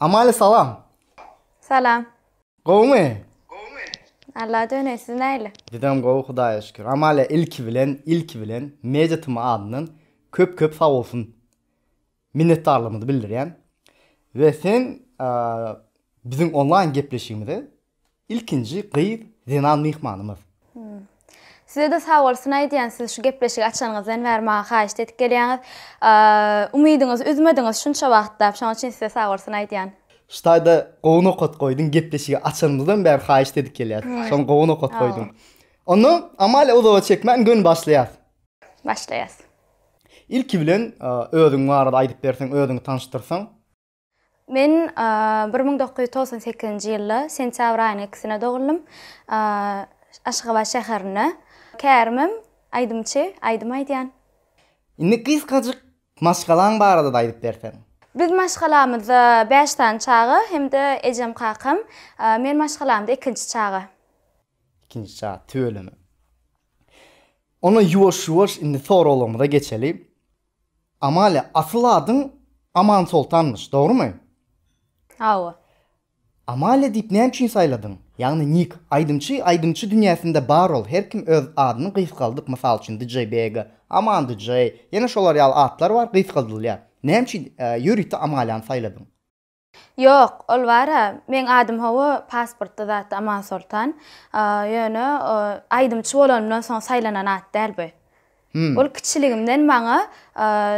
Amaly salam. Salam. Gowmy? Gowmy? Alla döneý siz näle? Bizem gowy Hudaýa şükür. Amaly ilki bilen ilki bilen Media TM adyndan köp köp sag bolsun. Minnetdarlygymyzy bildirýän. We sen biziň onlaýn gepleşigimize Ilkinji gyz zenan myhmanymyz. Sizede sag bolsun aýdýan siz şu gepleşigi açanyňyzdan bäri maňa haýyşt edip gelýäňiz. Umydyňyzy üzmediňiz şunça wagtlap şoň üçin size sag bolsun aýdýan. Ştaýda gowy nokat goýduň gepleşigi açanymyzdan bäri haýyşt edip gelýäs. Şony gowy nokat goýduň. Onda Amalia uzaga çekmän göni başlaýas. Başlaýas. Ilki bilen özüň barada aýdyp berseň özüňi tanyşdyrsaň. Men bir müň dokuz ýüz togsan sekizinji ýylda sentýabr aýynyň ikisinde dogulym. Aşgabat şäherinde. Kärimim, aýdymçy, aýdym aýdýan. Indi gysgajyk maşgalaň barada-da aýdyp berseň. Biz maşgalamyzda bäş sany çaga hem-de ejem kakam. Men maşgalamda ikinji çaga. Ikinji çaga, tüweleme. Onda ýuwaş-ýuwaş indi soraglarymyza geçeli. Amalia, asyl adyň Amansoltanmyş, dogrumy? Hawa. Amalia diýip näme üçin saýladyň? Ýagny nik. Aýdymçy aýdymçy dünýäsinde bar ol, her kim öz adyny gysgaldyp, mysal üçin DJ Bega, Aman DJ, ýene şolar ýaly atlar bar gysgaldylýar. Näme üçin ýörite Amaliany saýladyň? Ýok, ol bar-a, meň adym hawa pasportda zatda Amansoltan, ýöne aýdymçy bolanymdan soň saýlanan at däl bu. Ol kiçiligimden maňa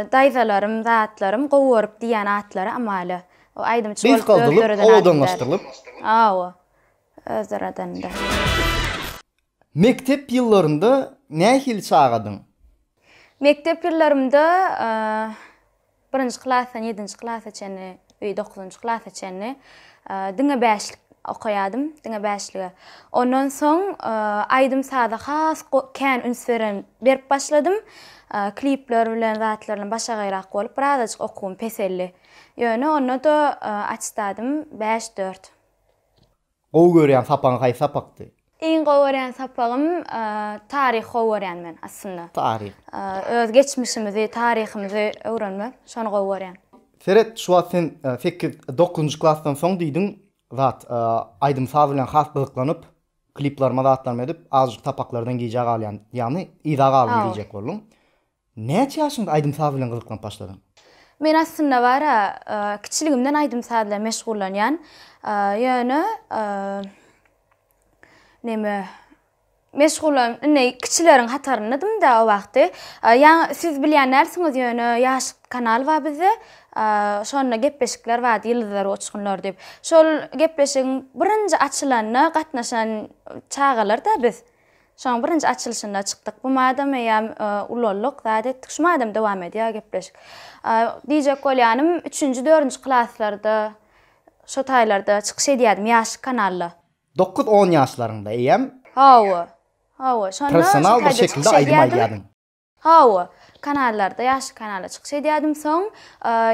daýzalarym, zatlarym gowy görüp diýýän atlary amaly. O aýdymçy bolup özleri döredenden däl. Awa, özleri döredenden. Mekdep ýyllarynda nähili çagadyň? Mekdep ýyllarymda birinji klasdan ýedinji klasa çenli we dokuzynjy klasa çenli diňe bäşlik okaýadym, diňe bäşlige. Ondan soň aýdym-saza has kän üns beren, berip başladym. Klipler bilen zatlar bilen başagaýrak bolup, birazajyk okuwym peseldi. Ýöne onda-da attestadym bäş dört. Gowy görýän sapagyň haýsy sapakdy? Iň gowy görýän sapagym taryh gowy görýän men aslynda. Taryh. Öz geçmişimizi, taryhymyzy öwrenmek, şony gowy görýän. Seret, şu wagt sen sekiz, dokuzynjy klasdan soň diýdiň zat, aýdym saz bilen has gyzyklanyp, kliplaryma zatlaryma edip, azajyk sapaklardan gijä galýan, ýagny yza galdym diýjek bolduň. Näçe ýaşyňda aýdym-saz bilen gyzyklanyp başladyň? Men aslynda bar-a, kiçiligimden aýdym-saz bilen meşgullanýan. Ýöne, neme, meşgullan, indi kiçileriň hatarynda-dym-da o wagty. Ýa siz bilýän dälsiňiz, ýöne Ýaşyk kanaly bar bizde. Şonda gepleşikler bardy, Ýyldyzlar we uçgunlar diýip. Şol gepleşigiň birinji açylanyna gatnaşan çagalar-da biz. Şoň birinji açylyşynda çykdyk. Bu madam eýýäm ulaldyk, zat etdik. Şu madam dowam edýär gepleşik. Diýjek bolýanym, üçünji, dördünji klaslarda, şo taýlarda çykyş edýärdim ýaşlyk kanalda. Dokuz-on ýaşlaryňda eýýäm. Hawa. Hawa, şonda şo taýda çykyş edýärdim. Hawa, kanallarda ýaşly kanalda çykyş edýärdim. Soň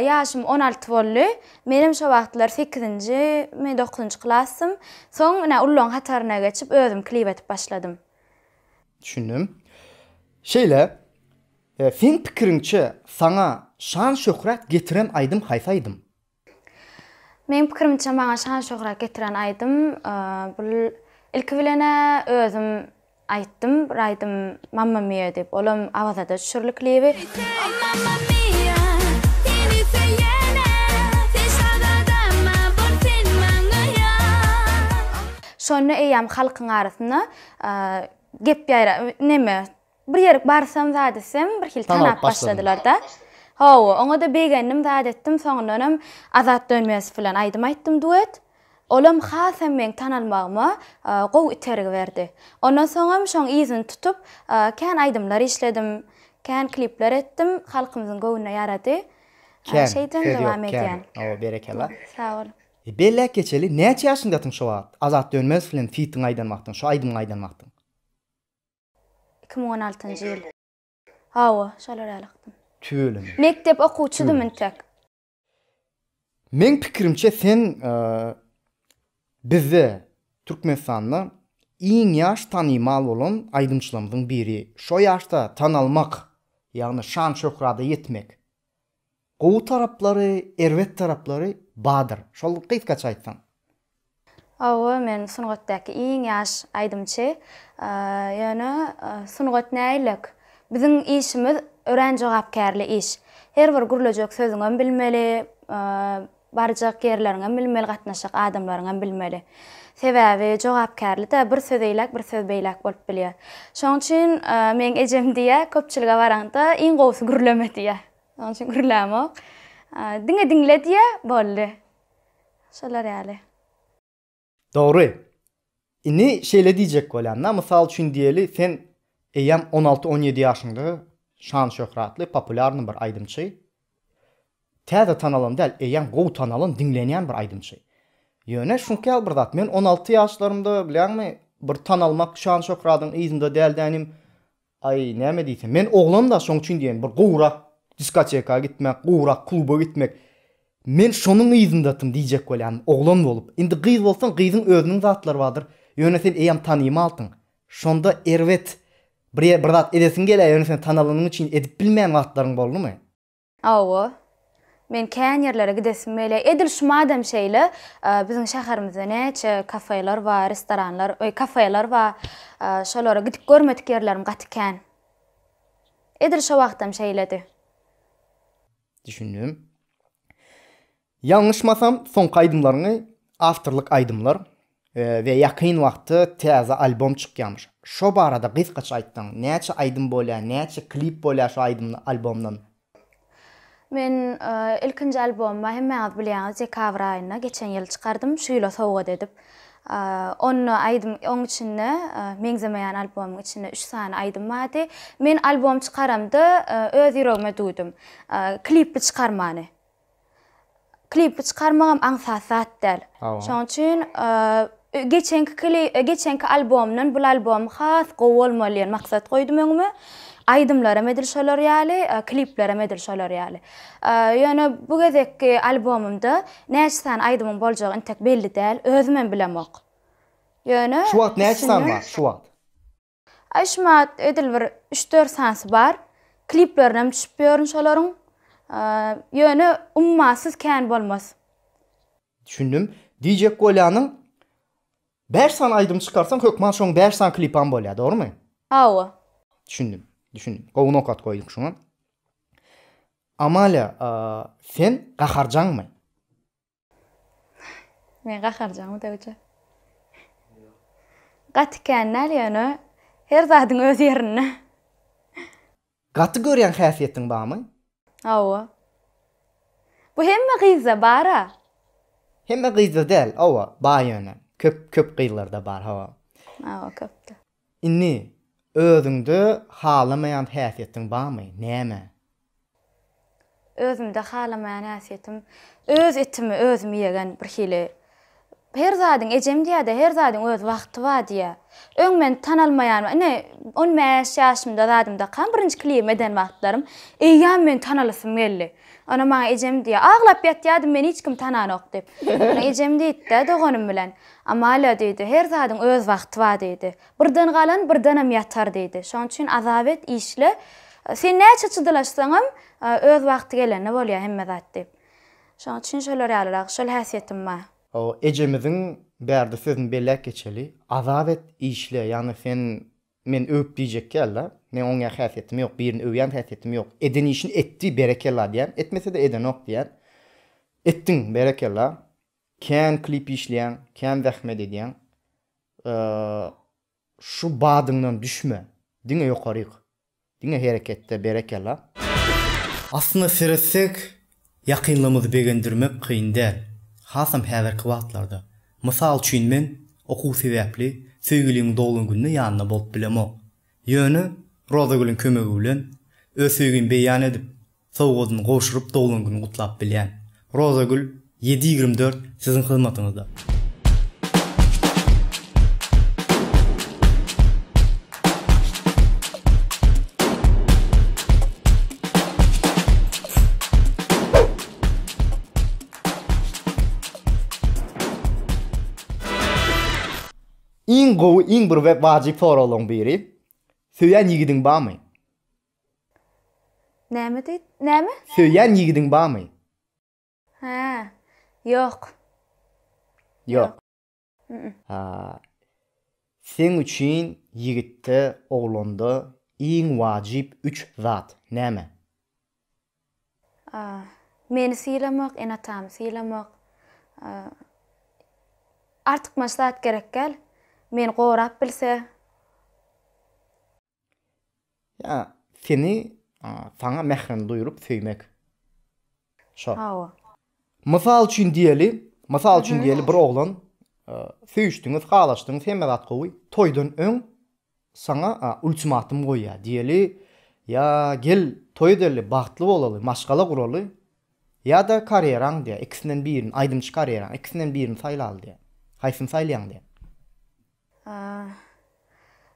ýaşym on alty boldy. Menem şo wagtlar sekizinjimi, dokuzynjy klasdym. Soň ine ullaryň hataryna geçip özüm klip edip başladym. Düşündim. Şeýle, seň pikiriňçe saňa şan-şöhrat getiren aýdym haýsy aýdym? Meň pikirimçe maňa şan şöhrat getiren aýdym bul ilki bilena özüm aýtdym bir aýdym Mamma Mia diýip olam Awazada düşürli klibi. Şonda eýýäm halkyň arasynda gep ýaýra neme Bir ýerik barsam zat etsem, birhili tanap başladylar-da. Hawa, oňa-da begendim, zat etdim, soňundanam Azat Dönmezow bilen aýdym aýtdym, duet. Olam hasam meň tanalmagyma gowy itergi berdi. Ondan soňam şoň yzyny tutup, kän aýdymlar işledim, kän klipler etdim, halkymyzyň göwnüne ýarady. Kän, söz ýok, kän. Hawa, berekella. Sag boluň. Belläp geçeli, näçe ýaşyňdasyň şo wagt, Azat Dönmezow bilen fitiňi aýdan wagtyň, şo aýdymyňy aýdan wagtyň? Iki müň on altynjy ýyl. Hawa, şalar ýaly ykdym. Tüweleme. Mekdep okuwçydym entek. Meň pikirimçe sen bizde Türkmenistanda iň ýaş tanymal bolan aýdymçylarymyzyň biri. Şo ýaşda tanalmak, ýagny şan-şöhrada ýetmek Gowy taraplary, erbet taraplary badyr. Şol gysgaça aýtsaň. Hawa men sungatdaky iň ýaş aýdymçy. Ýöne sungat näýlek? Biziň işimiz örän jogapkärli iş. Her bir gürlejek sözüňem bilmeli. Barjak ýerleriňem bilmeli gatnaşjak adamlaryňam bilmeli. Sebäbi jogapkärlide bir söz eýläk bir söz beýläk bolup bilýär. Şoň üçin meň ejem diýýär köpçülige baraňda iň gowusy gürleme diýýär. Şoň üçin gürlämok. Diňe diňle diýýär boldy. Şolar ýaly. Dogry. Indi şeýle diýjek bolýan-da, mysal üçin diýeli, sen eýýäm on alty, on ýedi ýaşyňda şan-şöhratly, populýarny bir aýdymçy. Täze tanalan däl, eýýäm gowy tanalan, diňlenýän bir aýdymçy. Ýöne şuňky ýaly bir zat, men on alty ýaşlarymda, bilýäňmi, bir tanalmak, şan-şöhradyň yzynda däldänim, Aý, näme diýsem, men oglan-da, şoň üçin diýen, bir gowrak diskoteka gitmek, gowrak kluba gitmek. Men şonuň yzyndatyn diýjek bolýan, oglan bolup. Indi gyz bolsaň, gyzyň özüniň zatlary bardyr. Ýöne sen eýýäm tanymalsyň. Şonda erbet, bir zat edesiň gelýär, ýöne sen tanalanyň üçin edip bilmeýän wagtlaryň boldumy? Hawa. Men kän ýerlere gidesim gelýär. Edil şu madem şeýle, biziň şäherimizde näçe kafeler bar, restoranlar, öý, kafeler bar. Şolara gidip görmedik ýerlerim gaty kän. Edil şo wagtam şeýledi. Düşündim. Ýalňyşmasam soňky aýdymlaryňy awtorlyk aýdymlar we ýakyn wagtda täze albom çykýamyş şo barada gysgaça aýtsaň näçe aýdym bolýa näçe klip bolýa şo aýdymdan albomdan. Men ilkinji albomy hemmäňiz bilýäňiz dekabr aýynda geçen ýyl çykardym şu ýyla sowgat edip onda aýdym oň içinde meňzemeýän albomyň içinde üç sany aýdym bardy men albom çykaramda öz ýüregime duýdum klipli çykarmany klipi çykarmagam aňsat zat däl. Şoň üçin geçenki kili, geçenki albomdan bu albom has gowy bolmaly diýen maksat goýdum öňüme. Aýdymlaram edil şolar ýaly, kliplerem edil şolar ýaly. Ýöne bu gezekki albomymda näçe sany aýdymyň boljagy intek belli däl, özümem bilemok. Ýöne Şu wagt näçe sany bar? Şu wagt. Aýşmat edil bir üç dört sanysy bar. Kliplerinem düşüp ýörün şolaryň. Ýöne ummasyz kän bolmaz. Düşündim. Diýjek bolýanym bäş sany aýdym çykarsaň hökman şoň bäş sany klipam bolýa dogrymy? Hawa. Düşündim. Düşündim. Gowy nokat goýdyň şoňa. Amalia sen gaharjaňmy? Men gaharjaňmy döwje? Gaty kän däl ýöne her zadyň öz ýerinde. Gaty görýän häsiýetiň barmy? Hawa. Bu hemme gyzda bar-a. Hemme gyzda däl, hawa, bar ýöne. Köp, köp gyzlarda bar, hawa. Hawa, köpde. Indi, özüňde halamaýan häsiýetiň barmy? Näme? Özümde halamaýan häsiýetim, öz etimi özüm ýegen birhili. Her zadyň, ejem diýýär-de, her zadyň öz wagty bar diýýär. Öň men tanalmaýan, ine, on bäş ýaşymda zadymy dakam, birinji klibimi eden wagtlarym, eýýäm men tanalasym geldi. Onam maňa ejem diýýär, Aglap ýatýardym, meni hiç kim tananok diýip. Ine, ejem diýdi-de, doganym bilen. Amalia diýdi, Her zadyň öz wagty bar diýdi. Birden galan birdenem ýatar diýdi. Şonuň üçin azap et, işle. Sen näçe çydylaşsaňam, öz wagty gelende bolýar hemme zat diýip. Şonuň üçin şolar ýalyrak, şol häsiýetim bar. O ejemiziň bärde sözüni belläp geçeli. Azap et, işle. Ýagny sen meni öwüp diýjek ýaly-da. Meň oňýan häsiýetim ýok, birini öwýän häsiýetim ýok. Eden işini etdi, berekella diýýän. Etmese-de edenok diýýän. Etdiň, berekella. Kän klip işleýäň, kän zähmet edýäň. Şu badyňdan düşme. Diňe ýokaryk. Diňe hereketde berekella. Aslynda seretsek ýakynlarymyzy begendirmek kyn däl, hasam häzirki wagtlarda. Mysal üçin men okuw sebäpli söýgilimiň doglan günde ýanynda bolup bilemok. Ýöne Rozagülüň kömegi bilen öz söýgimi beýan edip, sowgadyny gowşuryp doglan güni gutlap bilýän. Rozagül, ýedi ýigrimi dört siziň hyzmatyňyzda. Iň gowy iň bir we wajyp soraglaryň biri, Söýen ýigidiň barmy? Näme diýd? Näme? Söýýän ýigidiň barmy? Hä. Ýok. Ýok. Ýok. Haa. Seň üçin ýigitde, oglanda iň wajyp üç zat näme? A. Meni sylamak, ene-atamy sylamak. A. Artykmaç zat gerekgäl. Meni gorap bilse. Ýa seni saňa mährini duýuryp söýmek. Şo. Hawa. Mysal üçin diýeli, mysal üçin diýeli bir oglan söýüşdiňiz, halaşdyňyz, hemme zat gowy. Toýdan öň saňa ultimatum goýýar. Diýeli, ýa gel toý edeli, bagtly bolaly, maşgala guraly, ýa-da karýeraň diýýär, ikisinden birini, aýdymçy karýeraň, ikisinden birini saýlaly diýýär. Haýsyny saýlaýaň diýýär.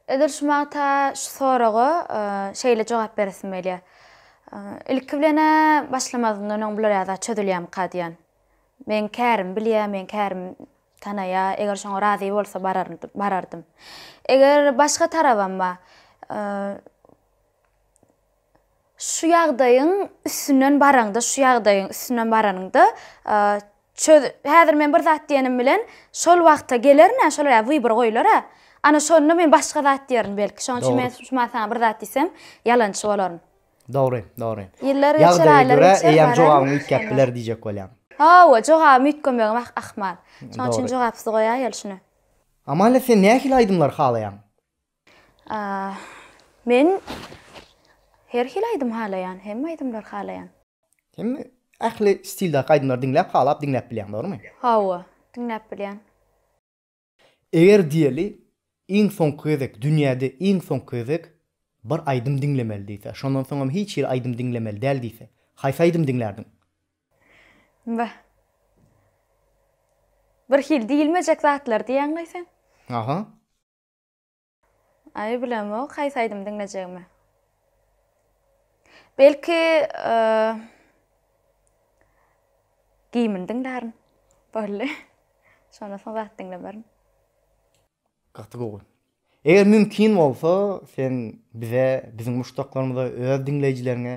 Edil şu magta şu soraga şeýle jogap beresim gelýär. Ilki bilen-ä başlamazyndan öň bular ýa-da çözülýärmika diýýän. Meň kärimi bilýär, meň kärimi tanaýar, eger şoňa razy bolsa barardym. Eger başga tarabam bar. Şu ýagdaýyň üstünden baraňda, şu ýagdaýyň üstünden baranyňda, çöz, häzir men bir zat diýenim bilen, şol wagta gelerin-ä, şol ýa wybor goýular-a. Ana şonda men başga zat diýerin belki. Şonuň üçin men şu wagt saňa bir zat diýsem, ýalançy bolaryn. Dogry, dogry. Ýyllar geçer, aýlar geçer, eýýäm jogabyňy üýtgäp biler diýjek bolýan. Hawa, jogabymy üýtgemegem ahmal. Şonuň üçin jogapsyz goýaýaly şuny. Amalia, sen nähili aýdymlary halaýaň? Men her hili aýdym halaýan, hemme aýdymlary halaýan. Sen ähli stildaky aýdymlary diňläp, halap diňläp bilýäň, dogrumy? Hawa, diňläp bilýän. Eger diýeli, iň soňky gezek, dünýäde iň soňky gezek bir aýdym diňlemeli diýse, şondan soň hem hiç hili aýdym diňlemeli däl diýse, haýsy aýdym diňlärdiň? Beh. Bir hili diýilmejek zatlar diýýäňlaý sen? Aha. Aý bilemok haýsy aýdymy diňlejegimi. Belki Gimini diňlärin. Bolly. Şondan soň zat diňlemerin. Gaty gowy. Eger mümkin bolsa, sen bize, biziň muşdaklarymyza, öz diňleýjileriňe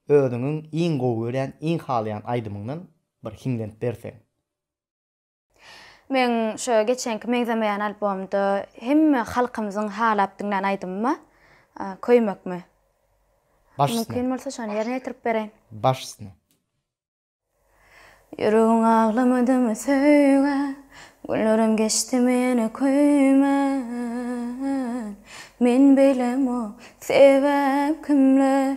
özüňiň iň gowy görýän, iň halaýan aýdymyňdan bir hiňlenip berseň. Meň şo geçenki Meňzemeýän albomda hemme halkymyzyň halap diňlän aýdymyma köýmekmi? Baş üstüne. Mümkin bolsa şony ýerine ýetirip bereýin. Baş üstüne. Ýüregim aglamadymy söýgä, Günlerim geçdimi ýene köýmän. Men beýlemok, sebäp kimler?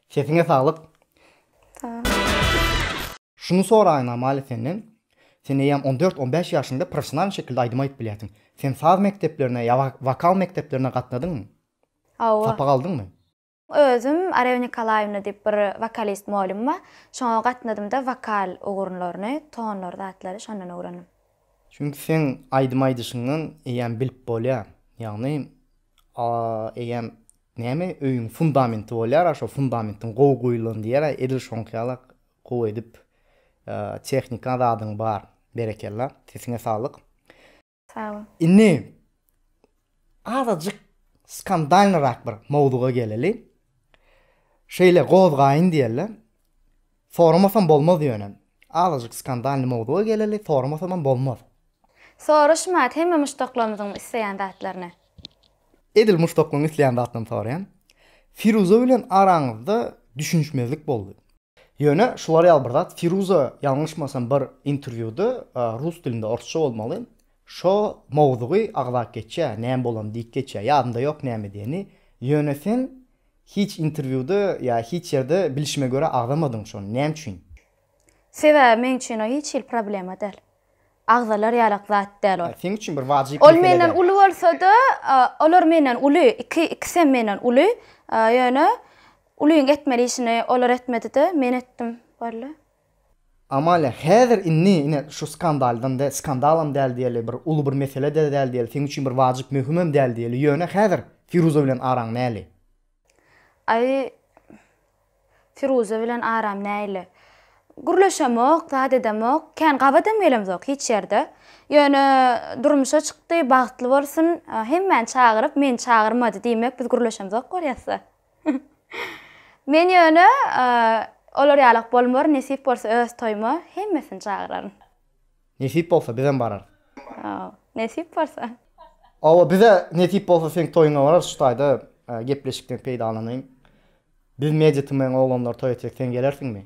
Sesiňe saglyk. Sagol. Şuny soraýyn Amalia senden, sen eýýäm on dört, on bäş ýaşyňda professionalny şekilde aýdym aýdyp bilýärsiň. Sen saz mekdeplerine ýa wokal mekdeplerine gatnadyňmy? Hawa. Sapak aldyňmy? Özüm Arew Nikolaýewna diýip bir wokalist molym bar. Şoňa gatnadymda wokal ugurlaryny, tonlar zatlary şondan öwrendim. Çünki seň aýdym aýdyşyňdan eýýäm bilip bolýar. Ýagny eýýäm Näme öýüň fundamenti bolýara şo fundamentiň gowy guýulan diýera edil şoňky ýala gowy edip tehnika zadyň bar berekella sesiňe saglyk. Sag bol. Indi azajyk skandalnyrak bir mowzuga geleli. Şeýle gozgaýyn diýeli. Soramasam bolmaz ýöne. Azajyk skandalny mowzuga geleli soramasamam bolmaz. Soraşma hemme muşdaklarymyzyň isleýän zatlaryny. Edil muşdaklaryň isleýän zatlaryny soraýan. Firuza bilen araňyzda düşünişmezlik boldy. Ýöne şular ýaly bir zat Firuza ýalňyşmasam bir interwýuda rus dilinde orsça bolmaly şo mowzugy agzap geçýä näme bolany diýip geçýä ýadymda ýok näme diýeni ýöne sen Hiç interwýuda ýa hiç ýerde bilişime görä agzamadyň şony näme üçin? Sebäbi meň üçin o hiç hili problema däl. Agzalar ýalak zat däl ol. Seň üçin bir wajyp mesele däl. Ol menden uly bolsada, olar menden uly, iki ikisem menden uly. Ýöne ulyň etmeli işini olar etmedide men etdim boldy. Amalia, häzir indi ine şu skandaldan de, skandalam däl diýeli, bir uly bir mesele-de däl diýeli, seň üçin bir wajyp möhümem däl diýeli, ýöne häzir Firuza bilen araň näli? Aý, Firuza bilen aram näili? Gürleşemok, zat edemok, kän gabadam gelemzok hiç ýerde. Ýöne durmuşa çykdy, bagtly bolsun, hemmäni çagyryp, meni çagyrmady diýmek biz gürleşemzok bolýasda. Men ýöne olar ýalak bolmaryn, nesip bolsa öz toýuma hemmesini çagyraryn. Nesip bolsa bizem bararys. Hawa, nesip bolsa. Hawa, bize nesip bolsa seň toýuňa bararys, şu taýda gepleşikden peýdalanyň. Biz Media TM-iň oglanlary toý etsek sen gelersiňmi?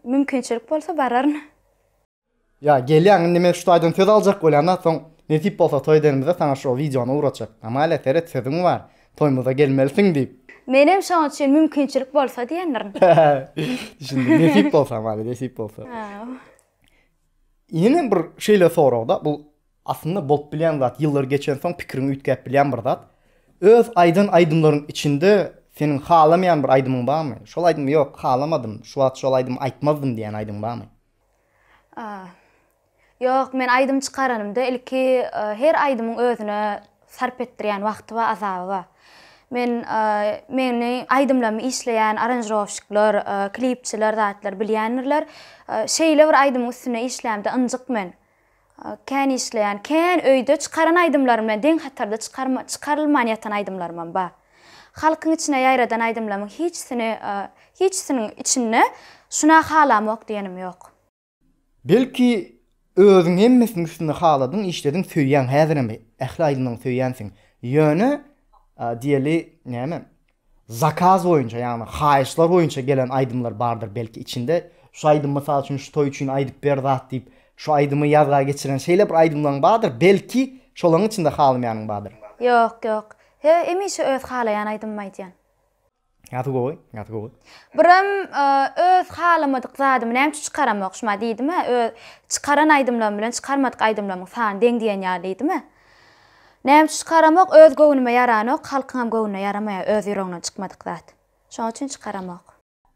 Mümkinçilik bolsa bararyn. Ýa gelýäň indi men şu taýdan söz aljak bolýan-da soň nesip bolsa toý edenimizde saňa şo wideony ugratjak. Amalia seret sözüň bar. Toýmyza gelmelisiň diýip. Menem şoň üçin mümkinçilik bolsa diýendirin. Düşündim. Nesip bolsa Amalia nesip bolsa. Ýene bir şeýle soragda bu Aslynda bolup bilýän zat, ýyllar geçensoň pikiriňi üýtgäp bilýän bir zat. Öz aýdan aýdymlaryň içinde seniň halamaýan bir aýdymyň barmy? Şol aýdymy ýok, halamadym, şu wagt şol aýdymy aýtmazdym diýýän aýdymyň barmy? Ýok, men aýdym çykaranymda ilki her aýdymyň özüne sarp etdirýän wagty bar, azaby bar. Men meni aýdymlarymy işleýän aranžirowşikler, klipçiler zatlar bilýändirler. Şeýle bir aýdymyň üstünde işlämde ynjyk men. Kän işleýän, kän öýde çykaran aýdymlarym bilen deň hatarda çykarma çykarylman ýatan aýdymlarymam bar. Halkyň içine ýaýradan aýdymlamyň hiçsini hiçsiniň içinde şuna halamok diýenim ýok. Belki özüň hemmesiniň üstünde haladyň işlediň söýýäň häzirem ähli aýdymlaň söýýänsiň ýöne diýeli näme Zakaz boýunça ýagny haýyşlar boýunça gelen aýdymlar bardyr belki içinde şu aýdym mysal üçin şu toý üçin aýdyp ber zat diýip şu aýdymy ýazga geçiren şeýle bir aýdymlaň bardyr belki şolaň içinde halymaýanyň bardyr. Ýok ýok hemişe öz halaýan aýdymymy aýdýan. Gaty gowy gaty gowy. Birem öz halamadyk zadymy nämçe çykaramok şuma diýdimä öz çykaran aýdymlarym bilen çykarmadyk aýdymlarymyň sany deň diýen ýaly diýdimä. Näme üçin çykaramok öz göwnüme ýaranok halkyňam göwnüne ýaramaýar öz ýüregiňden çykmadyk zat şoň üçin çykaramok.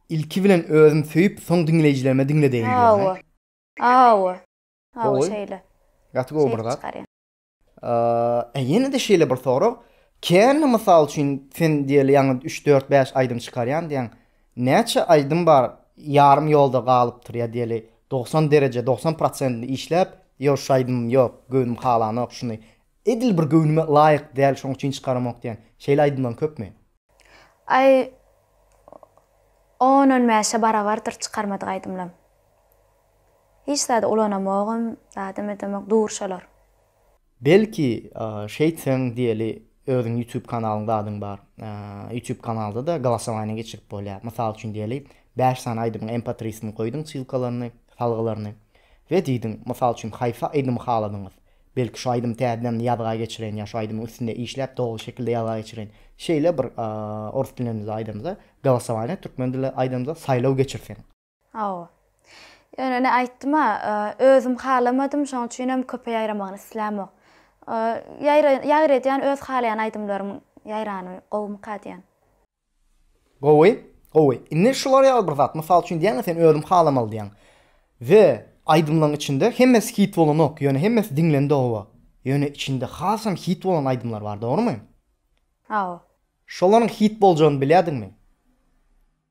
Ilki bilen özüm söýüp soň diňleýjilerime diňledeýin diýýäň hä. Hawa hawa şeýle. Gaty gowy bir zat. Ee ýenede şeýle bir sorag kände mysal üçin sen diýeli ýaňy üç dört bäş aýdym çykarýan diýýäň Näçe aýdym bar ýarym ýolda galypdyr ýa diýeli dogsan dereje dogsan prosentini işläp ýok şu aýdymym ýok göwnüm halanok şuny edil bir göwnüme laýyk däl şoň üçin çykaramok diýen şeýle aýdymlaň köpmi? Aý on on bäşe barabardyr çykarmadyk aýdymlam hiç zady ulanamogam zadam edemok dur şolar Belki şeýtseň diýeli özüň ýutub kanalyňda adyň bar ýutub kanalda-da glasowaniýa geçirip bolýar mysal üçin diýeli bäş sany aýdymyň empatrisini goýduň ssylkalaryny salgylaryny we diýdiň mysal üçin haýsy aýdymy haladyňyz belki şu aýdymy täzeden ýazga geçireýin ýa şu aýdymyň üstünde işläp dogry şekilde ýazga geçireýin şeýle bir orus dilimizde aýdamyzda glasowaniýa türkmen dilinde aýdamyzda saýlaw geçirseň. Hawa. Ýöne ine aýtdym-a, özüm halamadym, şonuň üçinem köpe ýaýramagyny islämok. Ýaýra-ýaýra edýän öz halaýan aýdymlarym ýaýrany gowumyka diýýän. Gowy, gowy. Indi şular ýaly bir zat, mysal üçin diýýäň-a sen özüm halamaly diýýäň. We aýdymlaryň içinde hemmesi hit bolanok, ýöne hemmesi diňlendi hawa. Ýöne içinde hasam hit bolan aýdymlar bar, dogrumy? Hawa. Şolaryň hit boljagyny bilýärdiňmi?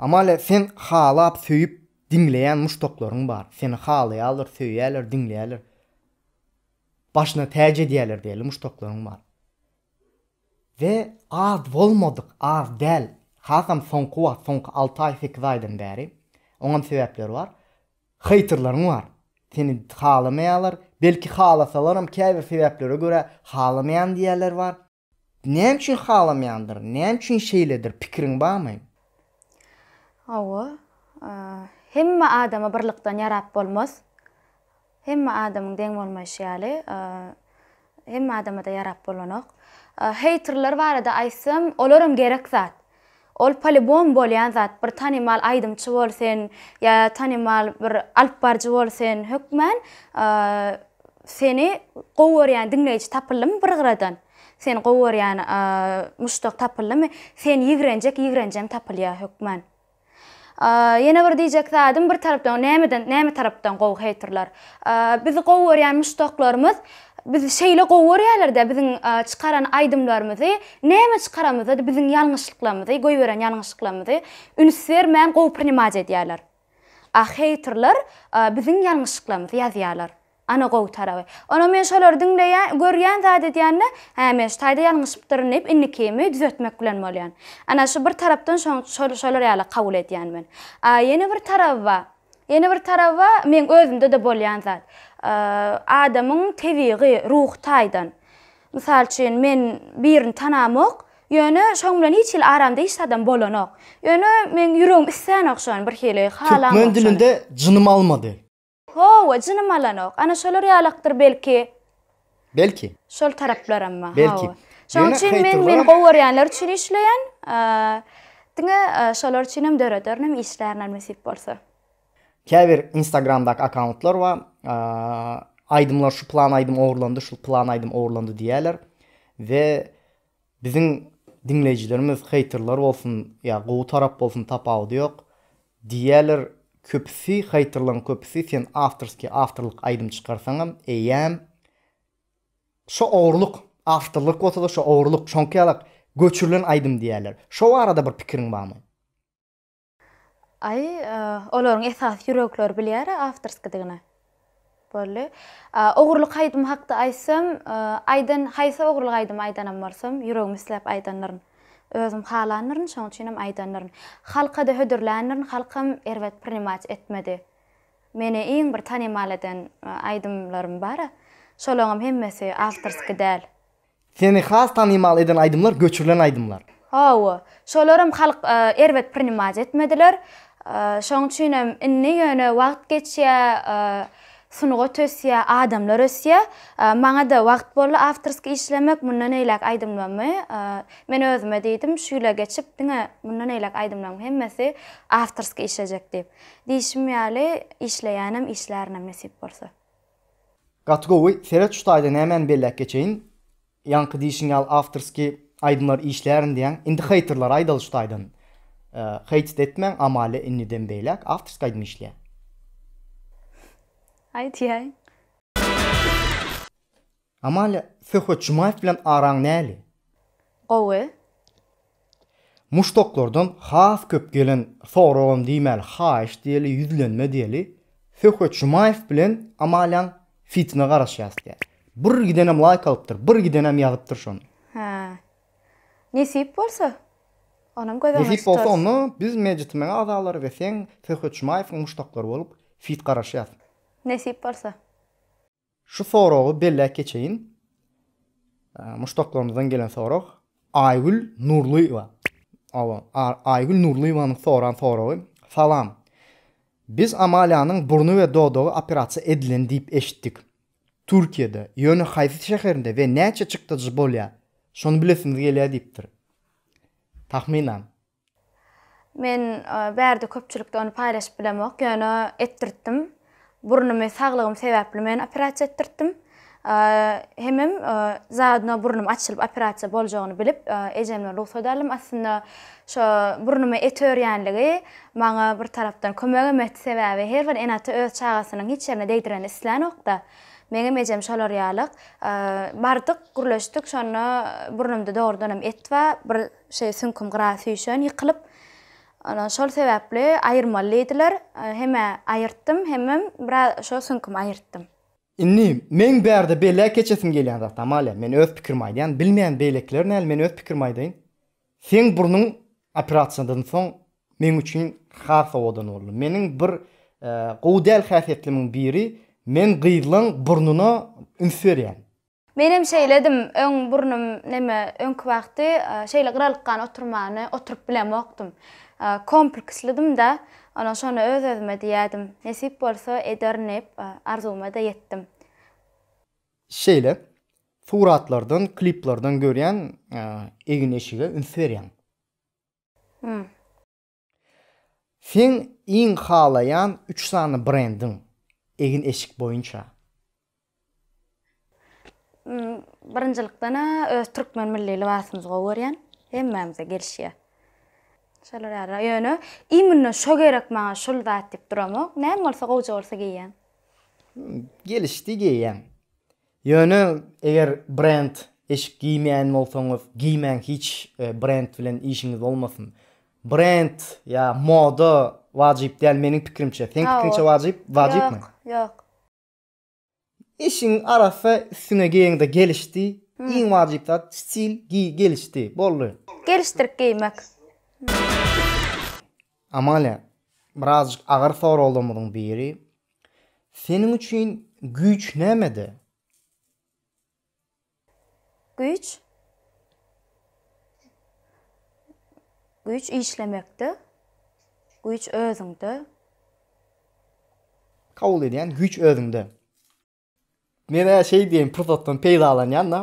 Amalia sen halap söýüp diňleýän muşdaklaryň bar. Seni halaýarlar, söýýärler, diňleýärler. Başyna täç edýärler diýeli muşdaklaryň bar. We az bolmadyk, az däl. Hasam soňky wagt, soňky alty aý, sekiz aýdan bäri. Oňam sebäpleri bar. Heýterleriň bar. Seni halamaýarlar. Belki halasalaram käbir sebäplere görä halamaýan diýýärler bar. Näme üçin halameýandyr? Näme üçin şeýledir? Pikiriň barmy? Hawa. Hemme adama birlikden ýarap bolmaz. Hemme adamyň deň bolmaýşy ýaly, hemme adama-da ýarap bolanok. Heýterler barada aýtsam, olaram gerek zat. Ol polibom bolýan zat, bir tanymal aýdymçy bolsun, ýa tanymal bir alyp baryjy bolsun, hökmän seni gowy görýän diňleýji tapyldymy bir gyradan, seni gowy görýän muşdak tapyldymy, seni ýigrenjek ýigrenjem tapylýar hökmän. Ýene bir diýjek zadym bir tarapdan nämeden näme tarapdan gowy heýterler. Bizi gowy görýän muşdaklarymyz bizi şeýle gowy görýärlerde biziň çykaran aýdymlarymyzy näme çykaramyzada biziň ýalňyşlyklarymyzy goýberen ýalňyşlyklarymyzy üns bermän gowy prinimat edýärler. A heýterler biziň ýalňyşlyklarymyzy ýazýarlar. Ana gowy taraby. Onam men şolary diňleýän, görýän zat edýän-de, hä men şu taýda ýalňyşypdyryn diýip indikimi düzetmek bilen bolýan. Ana şu bir tarapdan şoň şolar ýaly kabul edýän men. A ýene bir taraby ba, ýene bir taraby ba meň özümde-de bolýan zat. Adamyň tebigy, ruhy taýdan. Mysal üçin men birini tanamok, ýöne şoň bilen hiç hili aramda hiç zadam bolanok. Ýöne meň ýüregim islänok şony birhili, halamok şony. Türkmen dilinde jynym almady. Hawa, jynym alanok. Ana şolar ýalakdyr belki. Belki. Şol taraplaram bar. Belki. Şonuň üçin men meni gowy görýänler üçin işleýän. Diňe şolar üçin hem dörederin, işlärin nesip bolsa. Käbir Instagramdaky akkauntlar bar. Aýdymlar şu plan aýdym ogurlandy, şu plan aýdym ogurlandy diýýärler. We Biziň diňleýjilerimiz heýterler bolsun ýa gowy tarap bolsun tapawudy ýok diýýäler köpüsi heýterleriň köpüsi sen awtorskiý awtorlyk aýdym çykarsaňam eýýäm şo ogurlyk awtorlyk bolsada şo ogurlyk şoňka ýalak göçürilen aýdym diýýäler şo barada bir pikiriň barmy? Aý, olaryň esasy ýürekleri bilýär-ä awtorskidigini. Boldy. Ogurlyk aýdymy hakda aýtsam, aýdan, haýsy ogurlyk aýdymy aýdanam bolsam, ýüregim isläp aýdandyryn. Özüm halandyryn, şonuň üçinem aýdandyryn. Halka-da hödürländirin, halkam erbet prinimat etmedi. Meni iň bir tanymal eden aýdymlarym bar-a, şolaňam hemmesi awtorskiý däl. Seni has tanymal eden aýdymlar göçürilen aýdymlar. Hawa, şolaram halk erbet prinimać etmediler. Şoň üçinem indi ýöne wagt geçýär, sungat ösýär, adamlar ösýär. Maňa-da wagt boldy awtorskiý işlemek, mundan eýläk aýdymlarymy men özüme diýdim, şu ýyla geçip diňe mundan eýläk aýdymlaryň hemmesi awtorskiý işlejek diýip. Diýşim ýaly, işleýänem, işlärin hem nesip bolsa. Gaty gowy seret şu taýda nämäni belläp geçeýin ýaňky diýşiň ýaly awtorskiý aýdymlar işlärin diýýäň indi heýterlere aýdaly şu taýdan heýt etmäň amalia indiden beýläk awtorskiý aýdym işleýäň. Aýtýaý. Amalia, Söhbet Jumaýew bilen araň näli? Gowy. Muşdaklardan has köp gelen soragam diýmäli, haýyş diýeli, ýüzlenme diýeli, Söhbet Jumaýew bilen Amaliaň fitine garaşýas diýýär. Bir gidenem laýk alypdyr, bir gidenem ýazypdyr şony. Hä. Nesip bolsa, onam göz öňünde tutarys. Nesip bolsa, onda biz Mejitimiň agzalary we sen Söhbet Jumaýewiň muşdaklary bolup fit garaşýas. Nesip bolsa. Şu soragy belläp geçeýin. Muşdaklarymyzdan gelen sorag. Aýgül Nurlyýewa. Awa, Aýgül Nurlyýewanyň soran soragy. Salam. Biz Amaliýanyň burny we dodagy operasiýa edilen diýip eşitdik. Türkiýede, ýöne haýsy şäherinde we näçe çykdajy bolýar? Şony bilesimiz gelýär diýipdir. Tahminan. Men bärde köpçülikde ony paýlaşyp bilemok, ýöne etdirtdim. Burnumy saglygym sebäpli men operasiýa etdirtdim. Hemem zadno burnum açylyp operasiýa boljagyny bilip ejemden rugsat aldym. Aslynda şo burnuma et örýänligi maňa bir tarapdan kömegem etdi, sebäbi her bir ene-ata öz çagasynyň hiç ýerine degdirenini islänokda. Meňem ejem şolar ýalyk. Bardyk, gürleşdik, şonda burnumda dogrudanam et bar. Bir Şeý süňküm gyra süýşen, ýykylyp, ondan şol sebäpli aýyrmaly diýdiler. Hem-ä aýyrtdym, hemem biraz şo süňkümi aýyrtdym. Indi meň bärde belläp geçesim gelýän zat, Amalia, men öz pikirimi aýdýan, bilmeýän beýlekiler näl, men öz pikirimi aýdaýyn. Seň burnuň operasiýadan soň meň üçin has owadan boldy. Meniň bir gowy däl häsiýetlimiň biri, men gyzlaň burnuna üns berýän. Menem şeýledim, öň burnum neme, öňki wagty şeýle gyralykgan oturmany oturyp bilemokdym. Komplekslydym-da, onsoň şony öz-özüme diýerdim, nesip bolsa ederinip, arzuwyma-da ýetdim. Şeýle, suratlardan, kliplerden görýän, egin-eşige üns berýäň. Hum. Seň iň halaýan üç sany brendiň, egin-eşik boýunça? Birinjilikden-ä öz türkmen milli lybasymyzy gowy görýän. Hemmämize gelişýär. Şolar ýaly. Ýöne imенно şo gerek maňa, şul zat diýip duramok. Näme bolsa gowja bolsa geýýän. Gelişdi geýýäň. Ýöne eger brend eşik giýmeýän bolsaňyz giýmäň hiç brend bilen işiňiz bolmasyn. Brend ýa moda wajyp däl meniň pikirimçe. Seň pikiriňçe wajyp wajypmy? Ýok ýok. Eşigiň arassa üstüňe geýeňde gelişdi. Iň wajyp zat stil giý gelişdi. Boldy. Gelişdirip geýmek. Amalia, birazjyk agyr soraglarymyzyň biri. Seniň üçin güýç nämede? Güýç? Güýç işlemekde. Güýç özüňde. Kabul edýän, güýç özüňde. Men-ä şeý diýen pursatdan peýdalanýan-da,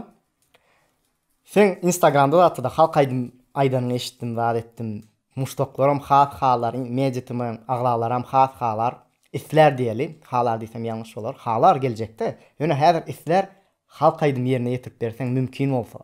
seň Instagramda zatda-da halk aýdym aýdanyňy eşitdim, zat etdim. Muşdaklaram has halar, Meditimiň agzalaram has halar, islär diýeli, halar diýsem ýalňyş bolar, halar geljekde, ýöne häzir islär, halk aýdym ýerine ýetirip berseň mümkin bolsa.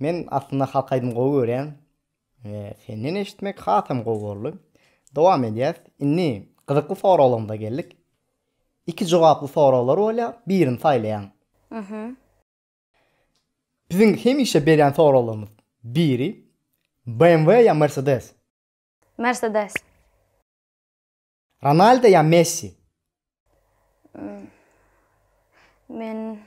Men aslynda halk aýdym gowy görýän we senden eşitmek hasam gowy boldy. Dowam edýäs. Indi gyzykly soraglarymyza geldik. Iki jogaply soraglar bolýar, birini saýlaýaň. Mhm. Biziň hemişe berýän soraglarymyz biri BMW ýa Mercedes? Mercedes. Ronaldo ýa Messi? Men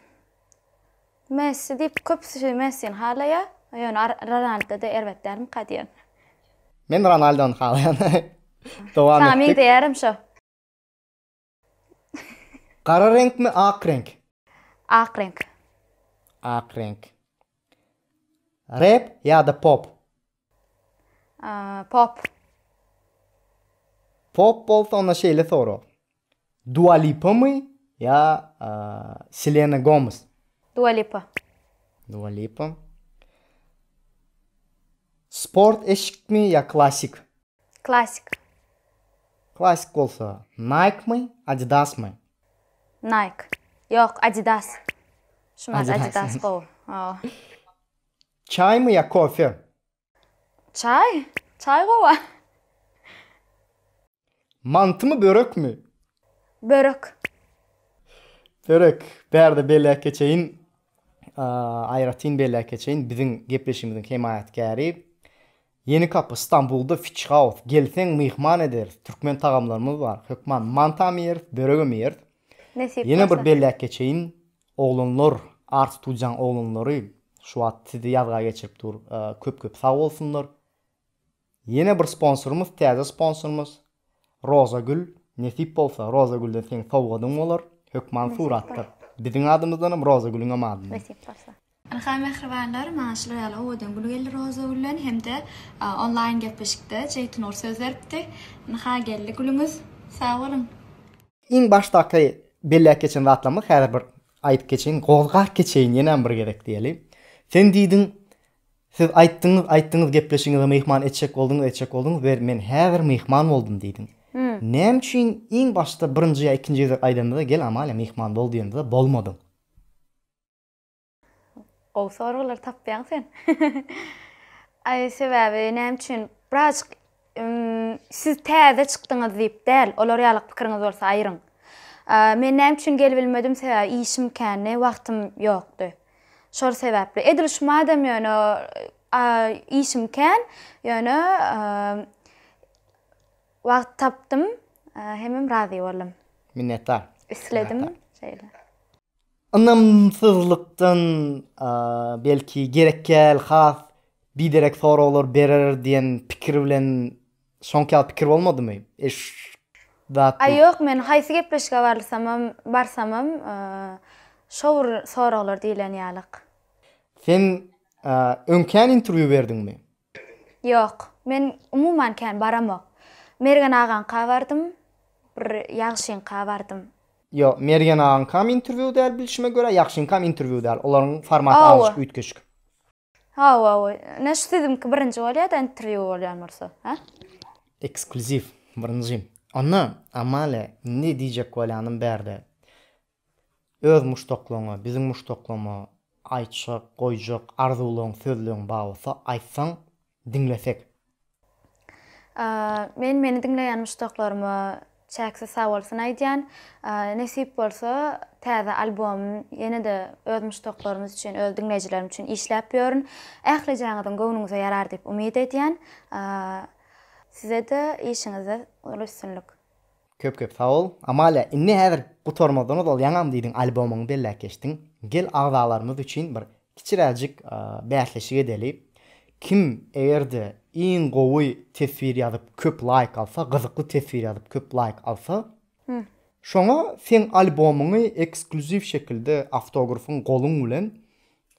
Messi diýip köpüsi Messini halaýar. Ýöne Ronaldo-da erbet dälmika diýýän. Men Ronaldony halaýan. Dowam etdik. Saňa meňzeýärem şo. Gara reňkmi, ak reňk? Ak reňk. Ak reňk. Rap ýa-da pop? Pop. Pop bolsa onda şeýle sorag. Dua Lipa my ýa Selena Gomez? Dua Lipa. Dua Lipa. Sport eşikmi ýa klasik? Klasik. Klasik bolsa Nike my, Adidas my? Nike. Ýok, Adidas. Şumat Adidas gowy. Çaýmy ýa kofe? Çaý. Çaý gowa. Mantymy börekmi? Börek. Börek. Bärde belläp geçeýin. Aýratyn belläp geçeýin, biziň gepleşigimiziň hemaýatkäri Ýeni kapy, Stambulda Fitch House. Gelseň myhman ederis. Türkmen tagamlarymyz bar. Hökman mantamy ýeris, böregem ýeris. Nesip bolsa. Ýene bir belläp geçeýin. Oglanlar Arstujaň oglanlary şu wagt sizi ýazga geçirip dur köp köp sag bolsunlar ýene bir sponsorymyz täze sponsorymyz Rozagül nesip bolsa Rozagülden seň sowgadyň bolar hökman suratdyr biziň adymyzdanam Rozagülüňem adyndan nesip bolsa. Ilhaý mähribanlar maňa şular ýaly owadan gül geldi Rozagülden hemde onlaýn gepleşikde Jeýtynur söz beripdi Ilhaý geldi gülüňiz sag boluň. Iň başdaky belläp geçen zatlarymyz häzir bir aýdyp geçeýin, gozgap geçeýin ýenem bir gezek diýeli. Sen diýdiň, Siz aýtdyňyz, aýtdyňyz gepleşigiňize myhman etjek bolduňyz, etjek bolduňyz we men häzir myhman boldum diýdiň. Näme üçin iň başda birinji ýa ikinji gezek aýdanda-da gel Amalia myhman bol diýende-de bolmadyň? Gowy soraglar tapýaň sen. Aý sebäbi näme üçin birazjyk siz täze çykdyňyz diýip däl, olar ýaly pikiriňiz bolsa aýyryň. Men näme üçin gelibilmedim sebäbi işim kändi, wagtym ýokdy. Şol sebäpli. Edil şu madem ýöne işim kän, ýöne wagt tapdym, hemem razy boldum. Minnetdar. Isledim şeýle. Ynamsyzlykdan belki gerekgäl has biderek soraglar berer diýen pikir bilen şoňky ýaly pikir bolmadymy? Eşdatdy. Ýok, men haýsy gepleşige barlysamam, barsamam, şo bir soraglar diýlen ýalyk. Sen öňkän interwýu berdiňmi? Ýok, men umuman kän baramok. Mergen agaňka bardym, bir Ýagşyňka bardym. Ýok, Mergen agaňkam interwýu däl bilşime görä, Ýagşyňkam interwýu däl. Olaryň formaty azajyk üýtgeşik. Hawa, ine şu siziňki birinji bolýa-da interwýu bolýan bolsa, hä? Eksklýuziw, birinji. Onda, Amalia, indi diýjek bolýanym bärde. Öz muşdaklaryňa, biziň muşdaklama aýtjak, goýjak arzuwlaryň, sözleň bar bolsa aýtsaň diňlesek. Men meni diňleýän muşdaklaryma çäksiz sag bolsun aýdýan. Nesip bolsa täze albomym ýene-de öz muşdaklarymyz üçin, öz diňleýjilerim üçin işläp ýörün. Ählijäňiziň göwnüňize ýarar diýip umyt edýän. Size-de işiňizde uly üstünlik. Köp köp sag bol. Amalia inni häzir gutarmazdan ozal ýaňam diýdiň albomyňy belläp geçdiň. Gel agzalarymyz üçin bir kiçiräjik bäsleşik edeli. Kim egerde iň gowy teswir ýazyp köp laýk alsa, gyzykly teswir ýazyp köp laýk alsa, şoňa seň albomyňy ekskluziw şekilde awtografyň goluň bilen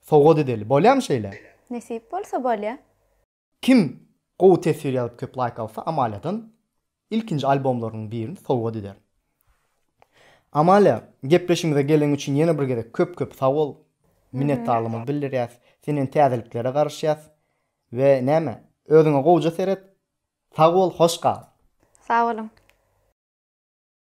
sowgat edeli. Bolýamy şeýle? Nesip bolsa bolýa. Kim gowy teswir ýazyp köp laýk alsa Amaliýadan ilkinji albomlarynyň birini sowgat ederin. Amaliýa gepleşigimize geleň üçin ýene bir gezek köp köp sag bol. Minnetdarlygymy bildirýäs. Senden täzeliklere garaşýas. We näme? Özüňe gowja seret. Sag bol, hoş gal. Sag boluň.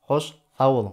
Hoş sag boluň.